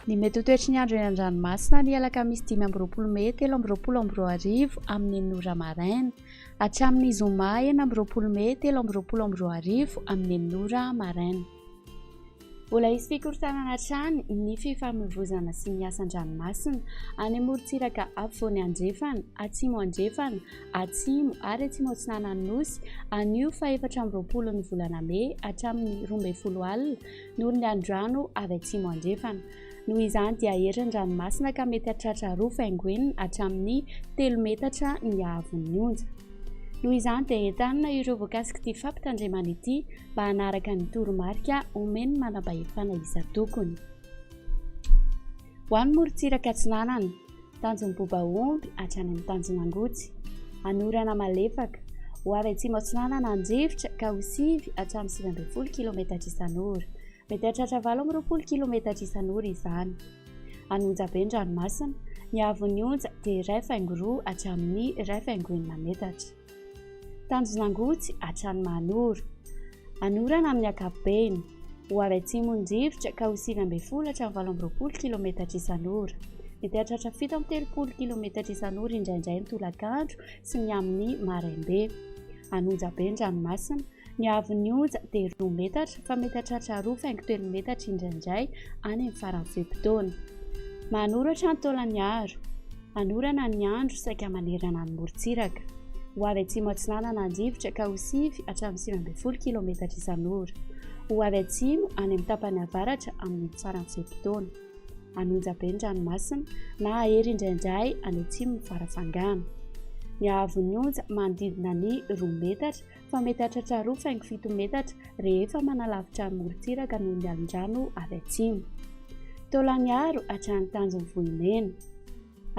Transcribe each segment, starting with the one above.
Ny mety ho toetry ny andro eny an-dranomasina ny alakamisy dimy amby roapolo mey telo amby roapolo amby roa arivo amin'ny enina ora maraina. Hatramin'ny zoma enina amby roapolo mey telo amby roapolo amby roa arivo amin'ny enina ora maraina. Mbola hisy fikorontanana hatrany ny fifamoivoizana sy ny asan-dranomasina any amorontsiraka afovoany andrefana, atsimo andrefana, atsimo ary atsimo atsinanan'ny Nosy anio fahefatra amby roapolo ny volana mey hatramin'ny roa ambin'ny folo alina noho ny andrano avy atsimo andrefana. Noho izany dia hery ny ranomasina ka mety hahatratra roa faingoenina hatramin'ny telo metatra ny haavon'ny onja. Noho izany dia entanina ireo voakasik'ity fampitandremana ity mba hanaraka ny toromarika omen'ny manam-pahefana isan-tokony. Ho an'ny morontsiraka atsinanana, tanjon'ny bobaomby hatrany amin'ny tanjon'angotsy, anorana malefaka, ho avy atsimo atsinanana andrivotra ka ho sivy hatramin'ny sivy ambin'ny folo kilaometatra isan'ora, Mety hahatratra valo amby roapolo kilometatra isan'ora izany. Any Onjabe ny ranomasina, ny haavon'ny onja dia iray faingo roa hatramin'ny iray faingo enina metatra. Tanjon'Angotsy hatrany Mahanoro. Anorana amin'ny ankapobeny. Ho avy atsimon'ny rivotra ka ho sivy ambin'ny folo hatramin'ny valo amby roapolo kilometatra isan'ora. Mety hahatratra fito amby telopolo kilometatra isan'ora indraindray ny tolakandro sy ny amin'ny maraimbe. Any Onjabe ny ranomasina, Ny haavon'ny onja dia roa metatra fa mety hahatratra roa faingo telo metatra indraindray any amin'ny faran'ny fe-potoana. Manoratra ny taolan'ny aro. Anorana ny andro saika manerana ny morontsiraka. Ho avy atsimo atsinanana andrivotra ka ho sivy hatramin'ny sivy ambin'ny folo kilaometatra isan'ora. Ho avy atsimo any amin'ny tapany avaratra amin'ny faran'ny fe-potoana. Anonja be ny ranomasina na hahery indraindray any atsimon'ny fara-fangana. Ny haavon'ny onja manodidina ny roa metatra fa mety hahatratra roa faingo fito metatra rehefa manalavitra ny morontsiraka noho ny alin-drano avy atsimo. Taolaniharo hatrany tanjon'ny vohimena.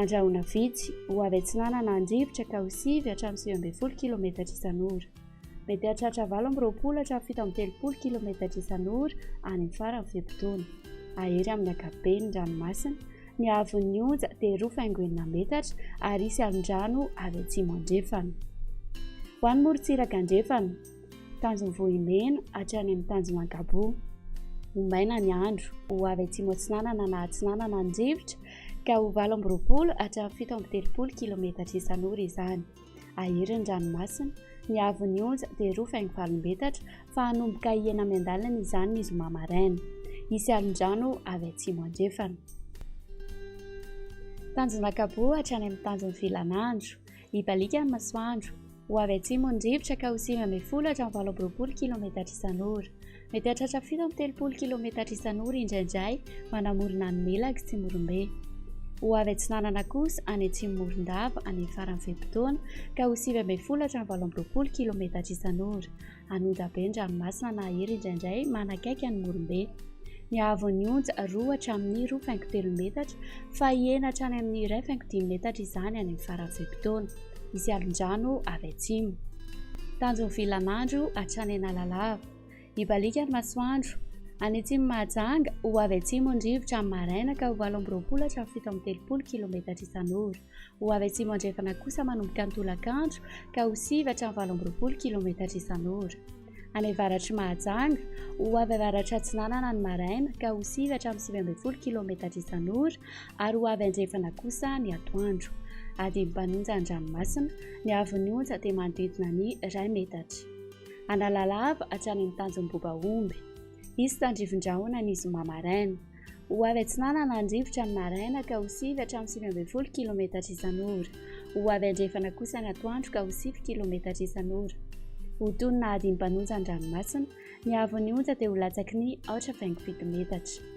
Andrahoina vitsy, ho avy atsinanana andrivotra ka ho sivy hatramin'ny sivy ambin'ny folo kilometatra isan'ora. Mety hahatratra valo amby roapolo hatramin'ny fito amby telopolo kilometatra isan'ora any amin'ny faran'ny fe-potoana. Ahery amin'ny ankapobeny ny ranomasina. ny haavon'ny onja dia roa faingo enina metatra ary hisy alondrano avy atsimo andrefana. Ho an'ny morontsiraka andrefana, tanjon'ny vohimena hatrany amin'ny tanjomankaboa. Ho maina ny andro, ho avy atsimo atsinanana na atsinanana ny rivotra ka ho valo amby roapolo hatramin'ny fito amby telopolo kilometatra isan'ora izany. Ahery ny ranomasina, ny haavon'ny onja dia roa faingo valom-betatra fa hanomboka hihena miandalana izany ny zoma maraina. Hisy alin-drano avy atsimo andrefana. Tanjona an-kapoa hatrany amin'ny tanjon'ny filan'andro. Hibaliaka ny masoandro. Ho avy atsimo ny rivotra ka ho sivy ambin'ny folo hatramin'ny valo amby roapolo kilaometatra isan'ora. Mety hahatratra fito amby telopolo kilometatra isan'ora indraindray manamorona an'i Mela i Tsimorombe. Ho avy atsinanana kosa any Atsimo Morondava any amin'ny faran'ny fe-potoana ka ho sivy ambin'ny folo hatramin'ny valo amby roapolo kilometatra isan'ora. An'onja be ny ranomasina nahery indraindray manakaiky an'i Morombe. Nihaavon'ny onja roa hatramin'ny roa faingo telo metatra fa hihena hatrany amin'ny iray faingo dimy metatra izany any amin'ny faran'ny fe-potoana. Hisy alon-drano avy atsimo. Tanjon'ny vilan'andro hatrany Analalava. Hibaliaka ny masoandro. Any atsimon'i Mahajanga, ho avy atsimo ny rivotra amin'ny maraina ka ho valo amby roapolo hatramin'ny fito amby telopolo kilaometatra isan'ora. Ho avy atsimo andrefana kosa manomboka ny tolakandro ka ho sivy hatramin'ny valo amby roapolo kilaometatra isan'ora. Any avaratr'i Mahajanga, ho avy avaratra atsinanana ny maraina ka ho sivy hatramin'ny sivy ambin'ny folo kilaometatra isan'ora ary ho avy andrefana kosa ny atoandro. Adin'ny mpanonja ny ranomasina, ny haavon'ny onja dia manodidina ny iray metatra. Analalava hatrany amin'ny tanjom-boba omby. Hisy tandrivin-drahona ny zoma maraina. Ho avy atsinanana ny rivotra ny maraina ka ho sivy hatramin'ny sivy ambin'ny folo kilometatra isan'ora. Ho avy andrefana kosa ny atoandro ka ho sivy kilometatra isan'ora. Ho toy ny nahadimy mpanonja ny ranomasina, ny haavon'ny onja dia ho latsaky ny aotra faingo fito metatra.